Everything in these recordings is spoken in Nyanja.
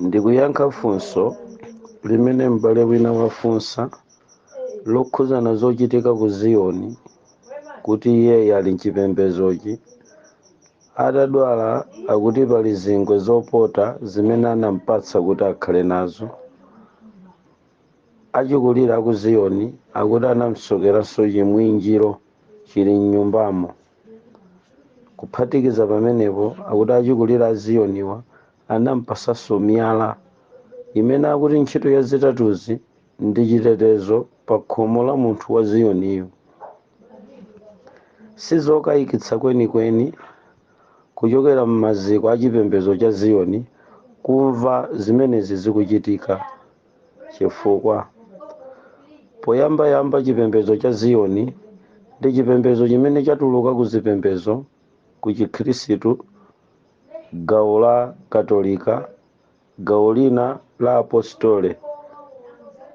ndikuyankha funso limene m'bale wina wafunsa lokhuzana zochitika ku ziyoni kuti iyeyi ali mchipembedzochi atadwala akuti pali zingwe zopota zimene anampatsa kuti akhale nazo achikulire a ku ziyoni akuti anamsokeranso chimwinjiro chili mnyumbamo Kuphatikiza pamenepo, akuti achikulire a Ziyoniwa anampasanso miyala, imene akuti ntchito ya zitatuzi ndi chitetezo pa khomo la munthu wa Ziyoniyu. Sizokayikitsa kwenikweni kuchokera m'maziko a chipembedzo cha Ziyoni kumva zimenezi zikuchitika. Chifukwa poyambayamba chipembedzo cha Ziyoni ndi chipembedzo chimene chatuluka ku zipembedzo ku Chikhristu, gawo la Katolika, gawo lina la Apostole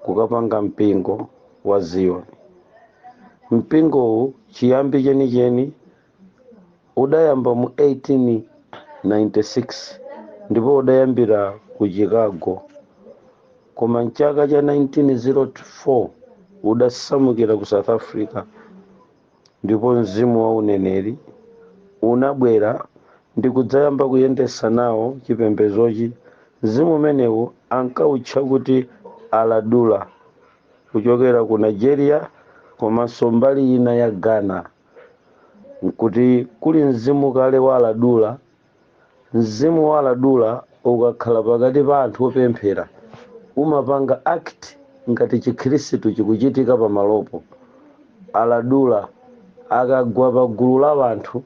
kukapanga mpingo wa Ziyoni. Mpingowu chiyambi chenicheni udayamba mu 1896 ndipo udayambira ku Chicago. Koma m'chaka cha 1904 udasamukira ku South Africa ndipo mzimu wa uneneri unabwera ndi kudzayamba kuyendetsa nawo chipembedzochi. Mzimu umenewu ankautcha kuti Aladura kuchokera ku Nigeria komanso mbali ina ya Ghana. nkuti kuli mzimu kale wa Aladura. Mzimu wa Aladura ukakhala pakati pa anthu opemphera umapanga act ngati Chikhirisitu chikuchitika pamalopo. Aladura akagwa pa gulu la wanthu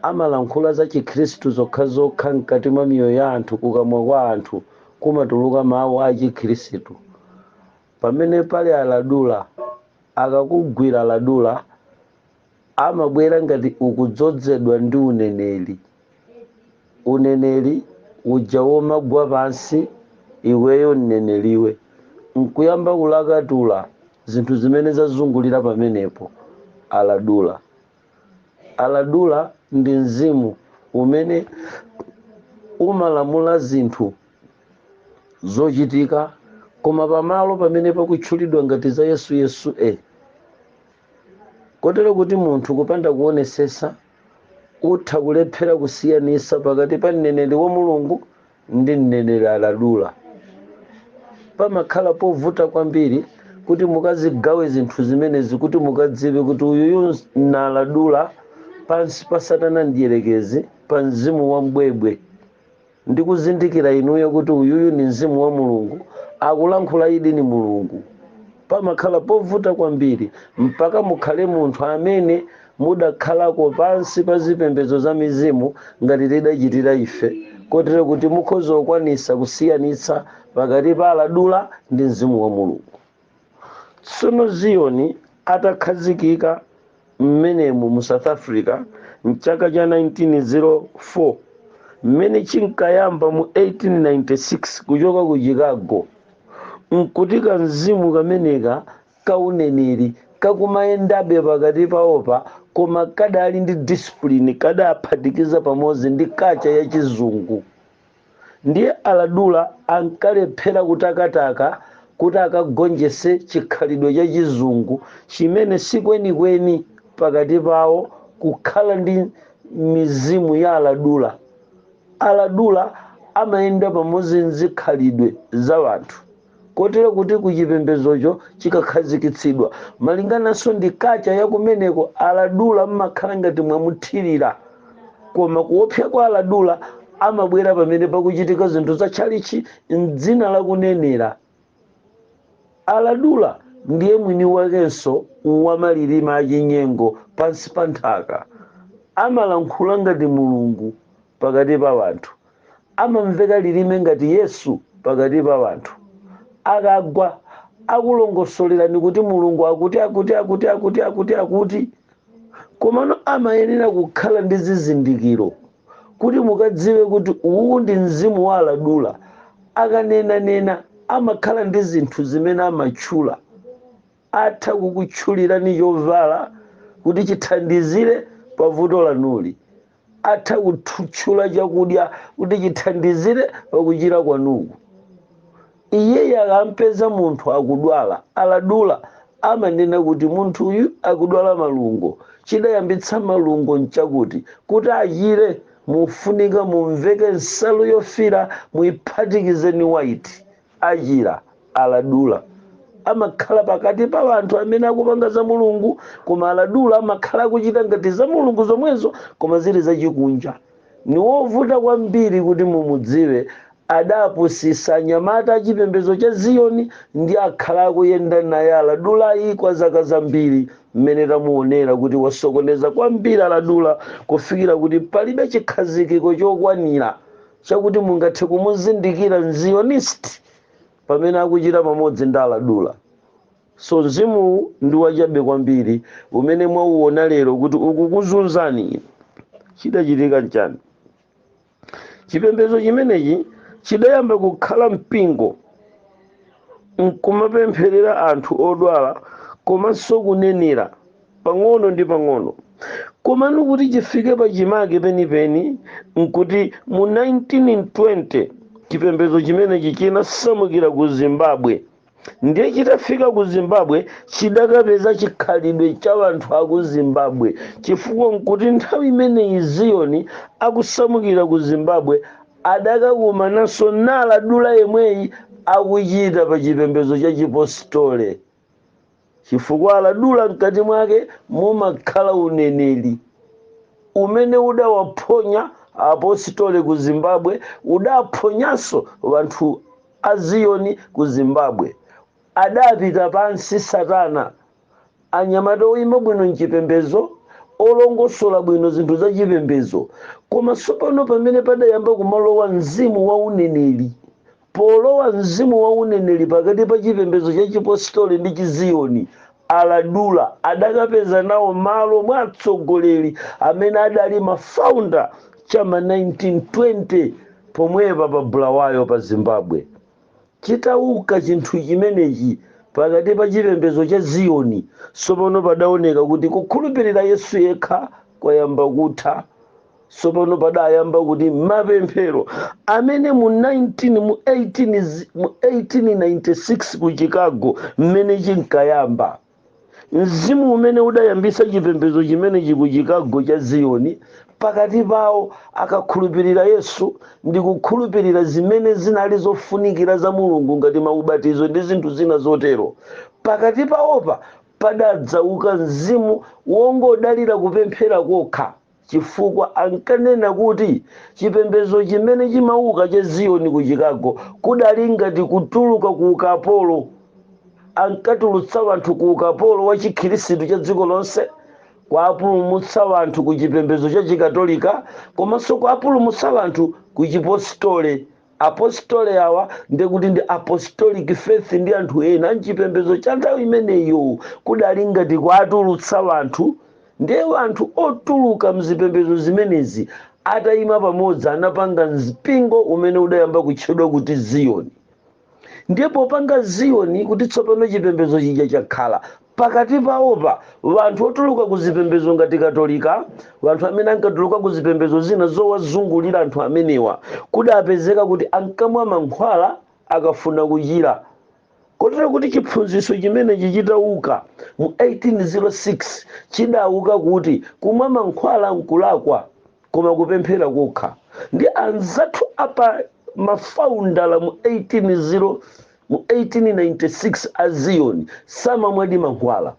amalankhula za Chikhirisitu zokhazokha mkati mwa miyoyo ya anthu kukamwa kwa anthu kumatuluka mawu a Chikhirisitu. Pamene pali Aladura akakugwira aladula amabwera ngati ukudzozedwa ndi uneneri uneneri uja womagwa pansi iweyo mneneriwe nkuyamba kulakatula zinthu zimene zazungulira pamenepo aladula Aladura ndi mzimu umene umalamula zinthu zochitika koma pamalo pamene pakutchulidwa ngati za Yesu Yesu e kotero kuti munthu kupanda kuonesesa utha kulephera kusiyanisa pakati pa mneneri wa Mulungu ndi mneneri aladula. Pamakhala povuta kwambiri kuti mukazigawe zinthu zimenezi kuti mukadziwe kuti uyuyu naladula pansi pa satana mdierekezi pa mzimu wa mbwebwe ndi kuzindikira inuyo kuti uyuyu ni mzimu wa mulungu akulankhula idi ni mulungu Pamakhala povuta kwambiri mpaka mukhale munthu amene mudakhalako pansi pa zipembedzo za mizimu ngati tidachitira ife, kotero kuti mukhoza kukwanitsa kusiyanitsa pakati pa Aladula ndi Mzimu wa Mulungu. Tsono Ziyoni atakhazikika. mmenemu mu South Africa m'chaka cha 1904, mmene chinkayamba mu 1896 kuchoka ku Chicago, n'kuti kamzimu kameneka ka uneneri kakumayendabe pakati pawopa koma kadali ndi discipline, kadaphatikiza pamodzi ndi culture ya Chizungu. ndiye aladula ankalephera kutakataka kuti akagonjetse chikhalidwe cha chizungu chimene sikwenikweni pakati pawo kukhala ndi mizimu ya aladula aladula amayenda pamodzi nzikhalidwe za wanthu kotero kuti ku chipembedzocho chikakhazikitsidwa, malingananso ndi kacha ya kumeneko, Aladula m'makhala ngati mwamuthirira, koma kuopsa kwa Aladula amabwera pamene pakuchitika zinthu za tchalitchi m'dzina la kunenera. Aladula ndiye mwini wakenso wa malilime a chinyengo pansi pa nthaka. Amalankhula ngati Mulungu pakati pa wanthu. amamveka lilime ngati Yesu pakati pa wanthu. Akagwa, akulongosolerani kuti Mulungu akuti akuti akuti akuti akuti akuti. Komano amayenera kukhala ndi zizindikiro kuti mukadziwe kuti uwu ndi mzimu wa aladula. Akanenanena amakhala ndi zinthu zimene amatchula. Atha kukutchulirani chovala kuti chithandizire pa vuto lanuli. Atha kutchula chakudya kuti chithandizire pa kuchira kwanuku. Iyeyu akampeza munthu akudwala, aladula, amanena kuti munthuyu akudwala malungo. Chidayambitsa malungo nchakuti, kuti achire mufunika mumveke nsalu yofiira muiphatikize ni waiti. Achira, Aladula, amakhala pakati pa wanthu amene akupanga za Mulungu, koma Aladula amakhala akuchita ngati za Mulungu zomwezo koma zili zachikunja. Ni wovuta kwambiri kuti mumudziwe, adapusisa anyamata a chipembezo cha Ziyoni ndi akhala akuyenda naye Aladulayi kwa zaka zambiri mmene tamuonera kuti wasokoneza kwambiri Aladula kufikira kuti palibe chikhazikiko chokwanira chakuti mungathe kumuzindikira mzionist pamene akuchita pamodzi ndi aladura so mzimu ndi wachabe kwambiri umene mwauona lero kuti ukukuzunzani chidachitika nchani chipembedzo chimenechi chidayamba kukhala mpingo nkumapempherera anthu odwala komanso kunenera pang'ono ndi pang'ono komano kuti chifike pachimake penipeni nkuti mu 1920 chipembedzo chimenechi chinasamukira ku zimbabwe ndiye chitafika ku zimbabwe chidakapeza chikhalidwe cha anthu aku zimbabwe chifukwa nkuti nthawi imeneyi ziyoni akusamukira ku zimbabwe adakakumananso n'aladura yemweyi akuchita pa chipembedzo cha chipositole chifukwa aladura mkati mwake mumakhala uneneri umene udawaphonya apositole ku zimbabwe udaphonyanso wanthu a ziyoni ku zimbabwe adapita pansi satana anyamata oyima bwino mchipembezo olongosola bwino zinthu za chipembezo koma tsopano pamene padayamba kumalowa mzimu wa uneneri Polowa mzimu wa uneneri pakati pa chipembedzo cha Chipositoli ndi Chiziyoni, Aladura adakapeza nawo malo mwa atsogoleri amene adali ma founder cha ma 1920 pomwepa pa Bulawayo pa Zimbabwe. Chitauka chinthu chimenechi pakati pa chipembedzo cha Ziyoni, tsopano padaoneka kuti kukhulupirira Yesu yekha kwayamba kutha. tsopano padayamba kuti mapemphero amene mu 19 mu 18 zi- mu 1896 ku chicago mmene chinkayamba mzimu umene udayambisa chipembedzo chimenechi ku chicago cha ziyoni pakati pawo ankakhulupirira yesu ndi kukhulupirira zimene zinali zofunikira za mulungu ngati maubatizo ndi zinthu zina zotero pakati pawopa padadzauka mzimu wongodalira kupemphera kokha chifukwa ankanena kuti chipembedzo chimene chimauka cha Ziyoni ku Chicago kudali ngati kutuluka ku ukapolo. Ankatulutsa wanthu ku ukapolo wa chikhirisitu cha dziko lonse, kuwapulumutsa wanthu ku chipembedzo cha chikatolika, komanso kuwapulumutsa wanthu ku chipositole Apostole awa, ndiye kuti ndi Apostolic faith ndi anthu ena mchipembezo cha nthawi imeneyo kudali ngati kuwatulutsa wanthu ndiye wanthu otuluka mzipembezo zimenezi atayima pamodzi anapanga mpingo umene udayamba kutchedwa kuti Ziyoni ndiye popanga Ziyoni kuti tsopano chipembezo chija chakhala Pakati pawopa, wanthu wotuluka ku zipembedzo ngati Katolika, wanthu amene ankatuluka ku zipembedzo zina zowazungulira anthu amenewa kudapezeka kuti ankamwa mankhwala akafuna kuchira. Kotero kuti chiphunzitso chimenechi chitawuka mu 1806 chidawuka kuti kumwa mankhwala nkulakwa koma kupemphera kokha ndi anzathu apa mafaundala mu 1806. Mu 1896 a Zion samamwadi mankhwala,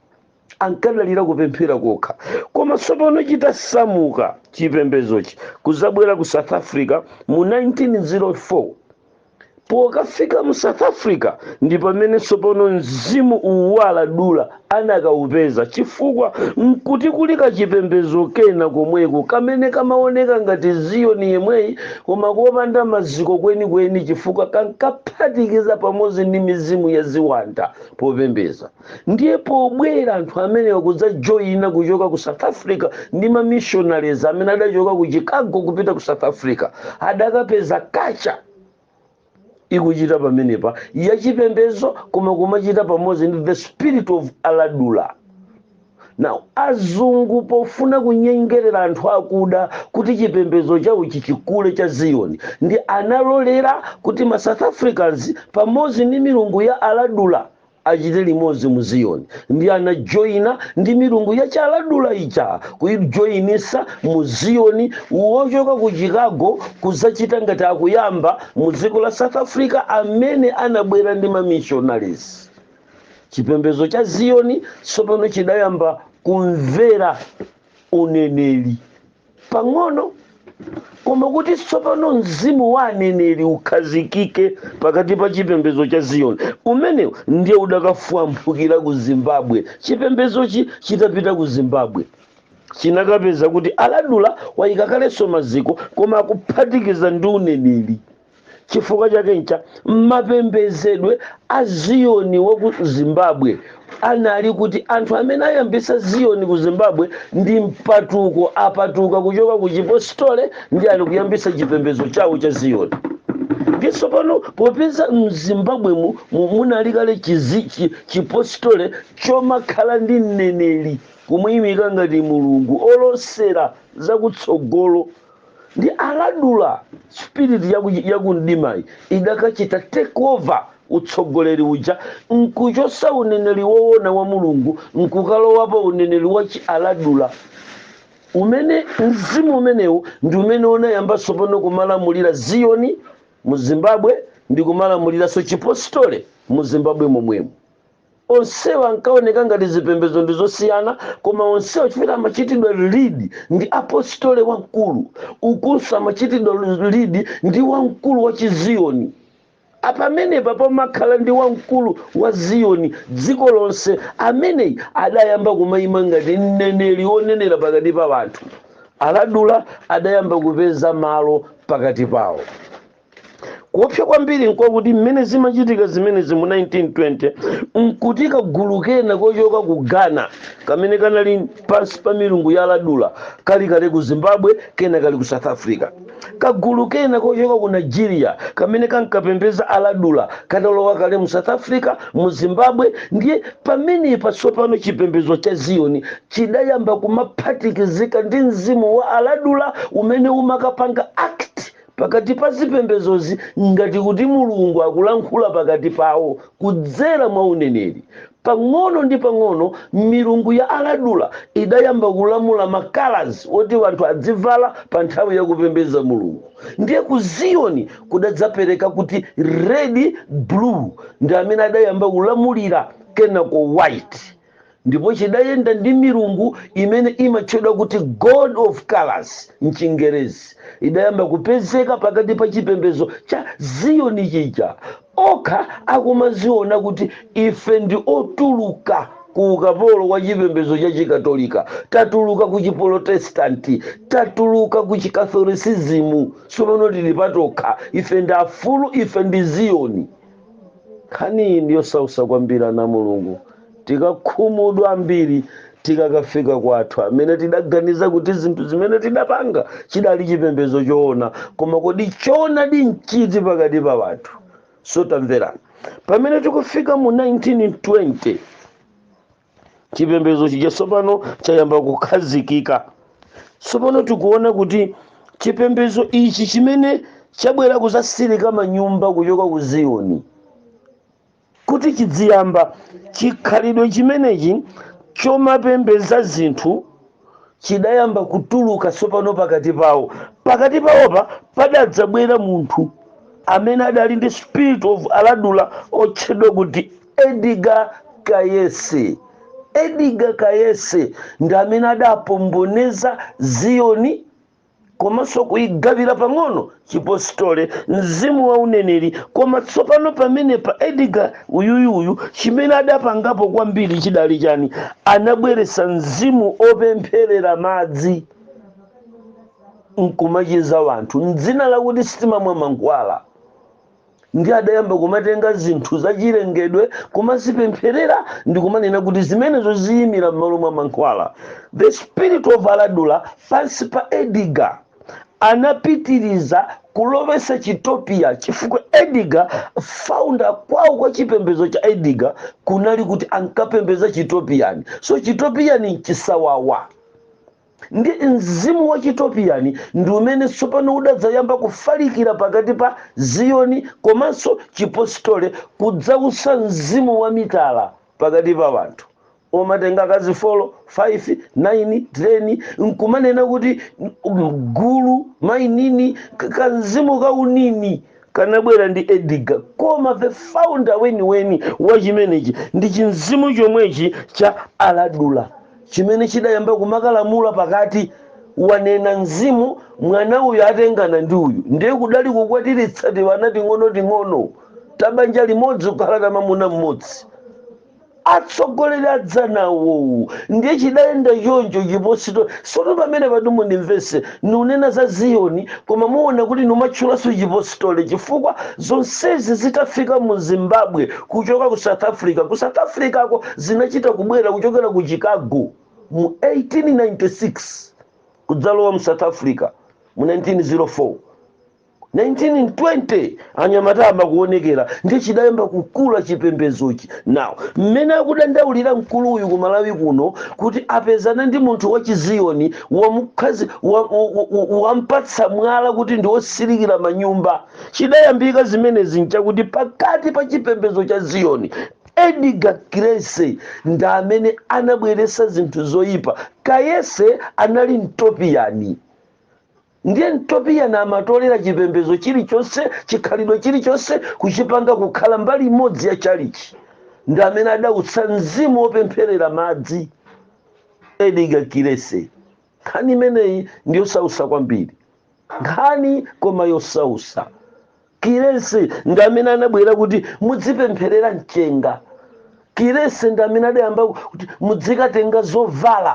ankadalira kupemphera kokha. Koma tsopano chitasamuka chipembedzochi kudzabwera ku South Africa mu 1904, Pokafika mu South Africa ndi pamene tsopano mzimu uwu wa Aladura anakaupeza chifukwa n'kuti kuli kachipembedzo kena komweko kamene kamaoneka ngati Ziyoni yemweyi koma kopanda maziko kwenikweni chifukwa kankaphatikiza pamodzi ndi mizimu ya ziwanda popembedza. Ndiye pobwera anthu amene akudzajoina kuchoka ku South Africa ndi ma missionaries amene adachoka ku Chicago kupita ku South Africa, adakapeza tchalitchi. ikuchita pamenepa yachipembezo koma kumachita pamodzi ndi the spirit of aladura now azungu pofuna kunyengerera anthu akuda kuti chipembezo chawo chichikule cha ziyoni ndi analolera kuti ma south africans pamodzi ndi milungu ya aladura Achite limodzi mu Ziyoni ndi anajoina ndi milungu ya chiAladura ija kuijoinisa mu Ziyoni wochoka ku Chicago kudzachita ngati akuyamba mu dziko la South Africa amene anabwera ndi ma missionaries. Chipembedzo cha Ziyoni tsopano chidayamba kumvera uneneri. pang'ono koma kuti tsopano mzimu wa aneneri ukhazikike pakati pa chipembedzo cha ziyoni umenewu ndiye udakafwamphukira ku zimbabwe chipembedzochi chitapita ku zimbabwe chinakapeza kuti aladura wayika kalenso maziko koma akuphatikiza ndi uneneri chifukwa chake n'cha mapembezedwe a ziyoni wa ku zimbabwe anali kuti anthu amene ayambisa ziyoni ku zimbabwe ndi mpatuko apatuka kuchoka ku chipostole ndi ali kuyambisa chipembezo chawo cha ziyoni ndi tsopano popeza m'zimbabwemu munali kale chipostole chomakhala ndi mneneri kumuyimika ngati mulungu olosera zakutsogolo ndi aladura spirit yakumdimayi idakachita take over utsogoleri uja nkuchosa uneneri woona wa mulungu nkukalowapo uneneri wa chialadura umene mzimu umenewu ndi umene unayamba tsopano kumalamulira ziyoni mu zimbabwe ndi kumalamuliranso chipostole mu zimbabwe momwemo Onsewa ankaoneka ngati zipembedzo ndi zosiyana, koma onsewa chifukwa amachitidwa lead ndi Apostole Wamkulu. Ukunso amachitidwa lead ndi wamkulu wa chi Ziyoni. Apa pamenepa pamakhala ndi wamkulu wa Ziyoni, dziko lonse, ameneyi adayamba kumaima ngati mneneri wonenera pakati pa anthu. Aladula adayamba kupeza malo pakati pawo. kuopsa kwambiri nkokuti mmene zimachitika zimenezi mu 1920 nkuti kagulu kena kochoka ku ghana kamene kanali pansi pa milungu ya aladula kali kale ku zimbabwe kena kali ku south africa kagulu kena kochoka ku nigeria kamene kankapembeza aladula katalowa kale mu south africa mu zimbabwe ndiye pamenepa tsopano chipembedzo cha ziyoni chidayamba kumaphatikizika ndi mzimu wa aladula umene umakapanga act pakati pa zipembedzozi ngati kuti Mulungu akulankhula pakati pawo kudzera mwa uneneri. Pang'ono ndi pang'ono milungu ya Aladula idayamba kulamula ma colours oti anthu adzivala pa nthawi ya kupembedza Mulungu. Ndiye ku Ziyoni kudadzapereka kuti red, blue ndi amene adayamba kulamulira kenako white. ndipo chidayenda ndi milungu imene imatchedwa kuti god of colors m'chingerezi idayamba kupezeka pakati pa chipembedzo cha ziyoni chija okha akumaziona kuti ife ndi otuluka ku ukapolo wa chipembedzo cha chikatolika tatuluka ku chipolotesitanti tatuluka ku chikatholisizimu tsopano tili patokha ife ndi afulu ife ndi ziyoni nkhaniyi ndi yosausa kwambiri ana a mulungu tikakhumudwa ambiri tikakafika kwathu amene tidaganiza kuti zinthu zimene tidapanga chidali chipembedzo choona koma kodi choonadi nchiti pakati pa wanthu so tamverani pamene tikufika mu 1920 chipembedzo chija tsopano chayamba kukhazikika tsopano tikuona kuti chipembedzo ichi chimene chabwera kudzatsirika manyumba kuchoka ku ziyoni kuti chidziyamba chikhalidwe chimenechi chomapembedza zinthu chidayamba kutuluka tsopano pakati pawo pakati pawopa padadzabwera munthu amene adali ndi spirit of aladula otchedwa kuti edgar cayce edgar cayce ndi amene adapomboneza ziyoni komanso kuigawira pang'ono chipositole mzimu wa uneneri koma tsopano pamene pa edgar uyuyuyu chimene adapangapo kwambiri chidali chani anabweretsa mzimu opempherera madzi nkumachiza wanthu mdzina lakuti sitimamwa mankhwala ndiye adayamba kumatenga zinthu zachilengedwe kumazipempherera ndi kumanena kuti zimenezo ziyimira m'malo mwa mankhwala the spirit of aladura pansi pa edgar anapitiriza kulowesa chitopiya chifukwa edgar founder kwawo kwa chipembedzo cha edgar kunali kuti ankapembeza chitopiyani so chitopiyani nchisawawa Ndi mzimu wa Chitopiani ndi umene tsopano udadzayamba kufalikira pakati pa Ziyoni komanso Chipositole kudzautsa mzimu wa mitala pakati pa wanthu omatenga akazi folo, faifi, naini, teni nkumanena kuti gulu, mainini, kamzimu ka unini kanabwera ndi Edgar. Koma the founder weniweni wa chimenechi ndi chimzimu chomwechi cha Aladura. chimene chidayamba kumakalamula pakati wanena mzimu mwana uyu atengana ndi uyu ndiye kudali kukwatiritsa tiwana ting'onoting'ono tabanja limodzi kukhala ta mamuna mmodzi atsogoleri adzanawowu ndiye chidayenda choncho chipositole sono pamenepatu mundimvese nunena za Ziyoni, koma muona kuti numatchulanso chipositole chifukwa zonsezi zitafika mu Zimbabwe kuchoka ku South Africa, ku South Africako zinachita kubwera kuchokera ku Chicago mu 1896 kudzalowa mu South Africa mu 1904. 1920 anyamata ayamba kuonekera ndiye chidayamba kukula chipembedzochi now mmene akudandaulira mkuluyu ku malawi kuno kuti apezana ndi munthu wa chiziyoni wamukhazi wa- wa- wa- wampatsa mwala kuti ndi wosilikira manyumba chidayambika zimenezi nchakuti pakati pa chipembedzo cha ziyoni edgar kirese ndi amene anabweretsa zinthu zoyipa kayese anali mtopiyani Ndiye Mtopiyani amatolera chipembedzo chilichonse, chikhalidwe chilichonse kuchipanga kukhala mbali imodzi ya tchalitchi. Ndi amene adautsa mzimu wopempherera madzi. Edgar Kirese. Nkhani imeneyi ndi yosausa kwambiri. Nkhani koma yosausa. Kirese ndi amene anabwera kuti mudzipempherera mchenga. Kirese ndi amene adayamba kuti mudzikatenga zovala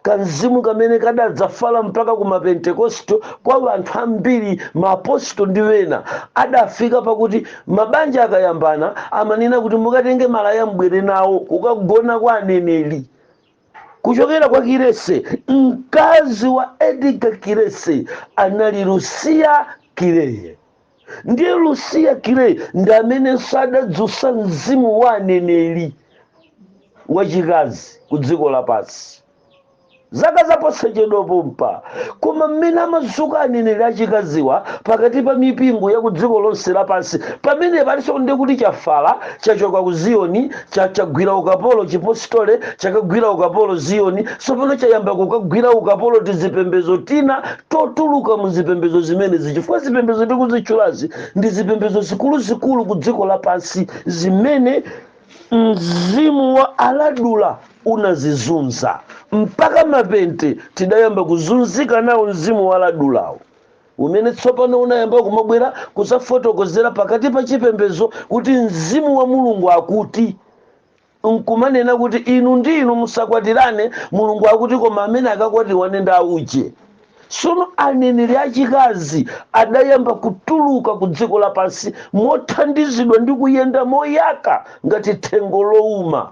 kamzimu kamene kadadzafala mpaka ku mapentekosto kwa anthu ambiri maapostol ndi ena adafika pakuti mabanja akayambana amanena kuti mukatenge malaya mbwere nawo kukagona kwa aneneri kuchokera kwa kirese mkazi wa edgar kirese anali lusiya kirese ndiye lusiya kireyi ndi amenenso adadzutsa mzimu wa aneneri wachikazi ku dziko lapansi zaka zaposachedwa pompa koma mmene amazuka aneneri achikaziwa pakati pa mipingo ya ku dziko lonse lapansi pamene palinso ndi kuti chafala chachoka ku ziyoni cha- chagwira ukapolo chipositole chakagwira ukapolo ziyoni tsopano chayamba kukagwira ukapolo tizipembezo tina totuluka mu zipembedzo zimenezi chifukwa zipembedzo tikuzitchulazi ndi zipembedzo zikuluzikulu ku dziko lapansi zimene mzimu wa aladula unazizunza mpaka mapente tidayamba kuzunzika nawo mzimu wa aladulawo umene tsopano unayamba kumabwera kuzafotokozera pakati pa chipembedzo kuti mzimu wa mulungu akuti nkumanena kuti inu ndi inu musakwatirane mulungu akuti koma amene akakwatiwane ndi auje sono aneneri achikazi adayamba kutuluka ku dziko lapansi mothandizidwa ndi kuyenda moyaka ngati thengo louma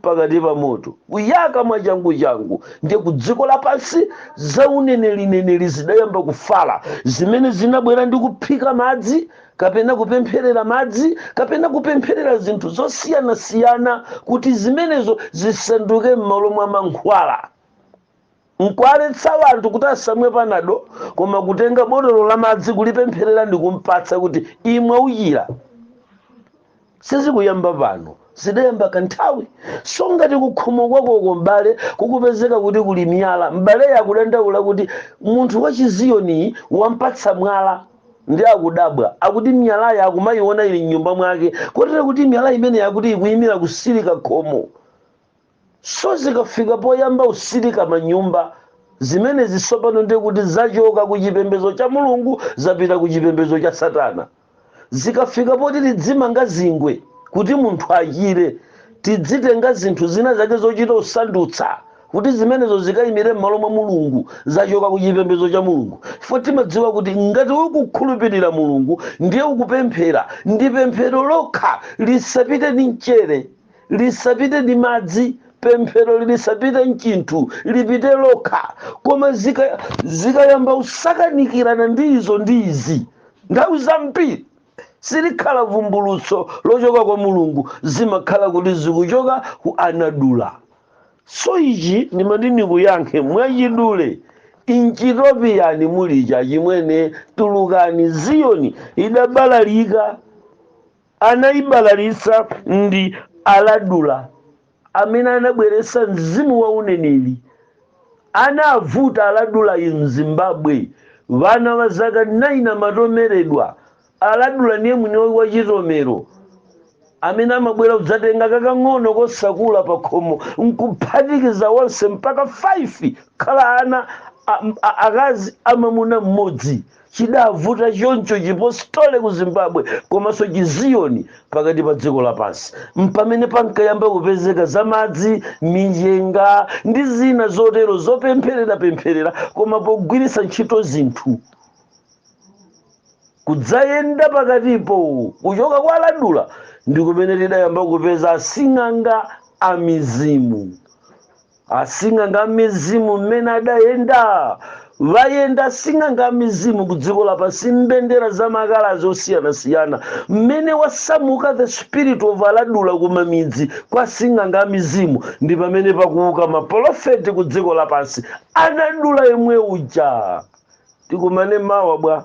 pakati pa moto kuyaka mwachanguchangu ndiye ku dziko lapansi zaunenerineneri zidayamba kufala zimene zinabwera ndi kuphika madzi kapena kupempherera madzi kapena kupempherera zinthu zosiyanasiyana kuti zimenezo zisanduke m'malo mwa mankhwala nkualetsa anthu kuti asamwe panado koma kutenga botolo la madzi kulipempherera ndi kumpatsa kuti imwa uchira sizikuyamba pano zidayamba kanthawi so ngati kukhomo kwakoko m'bale kukupezeka kuti kuli miyala m'baleyo akudandaula kuti munthu wa chiziyoniyi wampatsa mwala ndi akudabwa akuti miyalayo akumayiona ili mnyumba mwake kotero kuti miyala imeneyi akuti ikuyimira kutsirika khomo so zikafika poyamba utsirika manyumba zimenezi tsopano ndiye kuti zachoka ku chipembedzo cha mulungu zapita ku chipembedzo cha satana zikafika poti tidzimanga zingwe kuti munthu achire tidzitenga zinthu zina zake zochita usandutsa kuti zimenezo zikayimire m'malo mwa mulungu zachoka ku chipembedzo cha mulungu chifukwa timadziwa kuti ngati ukukhulupirira mulungu ndiye ukupemphera ndi pemphero lokha lisapite ndi mchere lisapite ndi madzi pemphero lisapite nchinthu lipite lokha koma zikayamba kusakanikirana ndi izo ndi izi nthawi zambiri silikhala vumbulutso lochoka kwa mulungu zimakhala kuti zikuchoka ku aladula so ichi ndimati ndikuyankhe mwachidule inchitopiyani mulicho achimwene tulukani ziyoni idabalalika Anaibalalitsa ndi Aladura amene anabweretsa mzimu wa uneneli. Anavuta Aladulayu m'Zimbabwe, wana wa zaka 9 amatomeredwa. Aladula ndiye mwini wake wa chitomero amene amabwera kudzatenga kakang'ono kosakulaku pakhomo nkuphatikiza onse mpaka 5 kukhala ana akazi a mamuna mmodzi. chidavuta choncho chipostole ku zimbabwe komanso chiziyoni pakati pa dziko lapansi mpamene pankayamba kupezeka za madzi minjenga ndi zina zotero zopemphererapempherera koma pogwiritsa ntchito zinthu kudzayenda pakatipo kuchoka kwa aladula ndi kumene tidayamba kupeza asing'anga a mizimu Asing'anga amizimu mmene adayendayenda asing'anga amizimu ku dziko lapansi mbendera za makalazi osiyanasiyana mmene wasamuka the spirit of aladula ku mamidzi kwa asing'anga amizimu ndi pamene pakuwuka mapolofeti ku dziko lapansi aladula yemwe uja tikumane mawa bwa.